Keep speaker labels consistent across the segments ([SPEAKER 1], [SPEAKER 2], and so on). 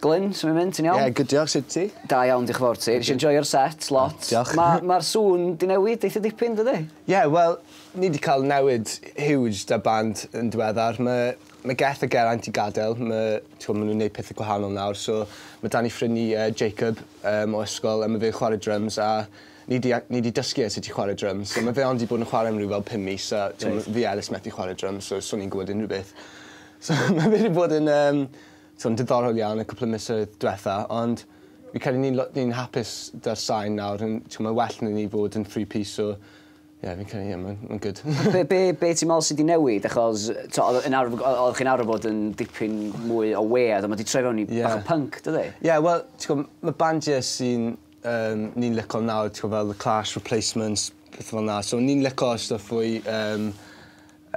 [SPEAKER 1] Glyn, su' ma' mynd? Ti'n iawn? Ie good diolch, sut ti?
[SPEAKER 2] Da iawn dioch y fowr ti.
[SPEAKER 1] Nesh i enjoio'r set lot. O diolch. Ma' ma'r
[SPEAKER 2] sŵn 'di
[SPEAKER 1] newid eitha dipyn dydi? Ie wel
[SPEAKER 2] ni 'di ca'l newid huge 'da band yn diweddar ma' ma' Geth a Geraint 'di gadel ma' t'mo' ma' nw'n neud pethe gwahanol nawr so ma' 'da ni ffrind ni yy Jacob yym o ysgol a ma' fe'n chware dryms a ni 'di a- ni 'di dysgu e sut i chware dryms so ma' fe ond 'di bod yn chware am ryw fel pum mis a t'mo' ma' fi a Elis methu chware dryms so so ni'n gwbod unrywbeth. So ma' fe 'di bod yn yym So'n diddorol iawn y cwpl o misoedd dwetha ond fi credu ni'n lo- ni'n hapus 'da'r sain nawr yn t'mo' ma' well 'dy ni fod yn three piece so ie fi'n credu ie ma'n ma'n good. Be' be' be' ti'n me'wl
[SPEAKER 1] sy' 'di newid achos t'o' odd yn arw- o- oddech chi'n arw fod yn dipyn mwy o weird a ma' 'di troi fewn i Ie. bach o punk dydi? Ie wel t'go' m-
[SPEAKER 2] ma' bandiau sy'n yym ni'n lico nawr t'go' fel The Clash, Replacements, pethe fel 'na so ni'n lico stwff fwy yym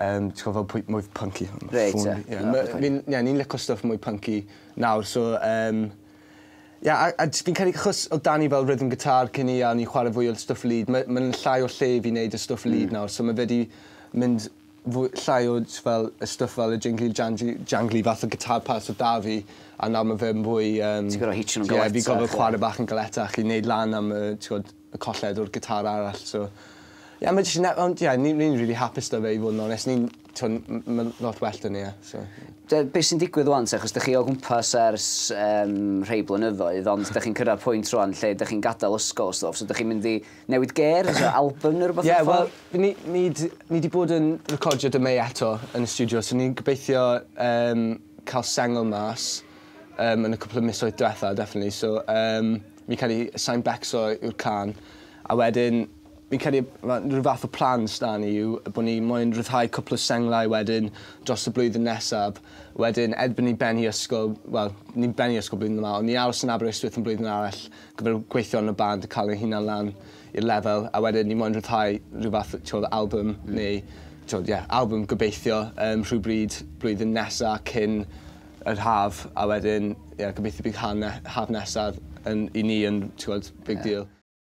[SPEAKER 2] Yym ti gwbo fel pwy mwy punky. Reit te. Ie
[SPEAKER 1] ma' fi'n ie o'n
[SPEAKER 2] i'n lico stwff mwy punky nawr so yym ie a a js fi'n credu achos odd 'da ni fel rythm guitar cyn 'ny a o'n i'n chware fwy o'r stwff lead ma' ma'n llai o lle i fi neud y stwff lead nawr so ma' fe 'di mynd fwy llai o js fel y stwff fel y jingly jangy jangly fath o guitar parts odd 'da fi a nawr ma' fe'n fwy yym... Ti gor'o' hitio nw'n galetach
[SPEAKER 1] ie. ...ie fi gorfod chware bach yn
[SPEAKER 2] galetach i neud lan am y t'god y colled o'r gitar arall so ie mae jyst yn iawn ie ni ni'n rili hapus 'da fe i fod yn onest ni'n t'mod m- m- ma'n lot well 'da ni e so ie. Be' be' sy'n digwydd
[SPEAKER 1] ŵan te achos dych chi o gwmpas ers yym rhei blynyddoedd ond dych chi'n cyrradd pwynt rŵan lle dych chi'n gadel ysgol a stwff so dych chi'n mynd i newid ger os yw albym neu rwbeth mewn ffordd? Ie wel ni ni
[SPEAKER 2] d- ni 'di bod yn recordio 'da Mei eto yn y stiwdio so ni'n gobeithio yym ca'l sengl mas yym yn y cwpwl o misoedd dwetha definately so yym Fi'n credu sai'n becso yw'r cân. A wedyn fi'n credu ma' rhyw fath o plan sda ni yw bo' ni moyn rhyddhau cwpl o senglau wedyn dros y blwyddyn nesaf. Wedyn erbyn ni'n bennu ysgol, wel, ni'n bennu ysgol blwyddyn yma, ond ni'n aros yn Aberystwyth am blwyddyn arall gyda'r gweithio yn y band a ca'l ein hunan lan i'r lefel a wedyn ni moyn rhyddhau rhyw fath o t'wod o albym neu t'wod ie albym gobeithio yym rhywbryd blwyddyn nesa cyn yr haf a wedyn ie gobeithio bydd ha' ne- haf nesaf yn i ni yn t'wod big deal.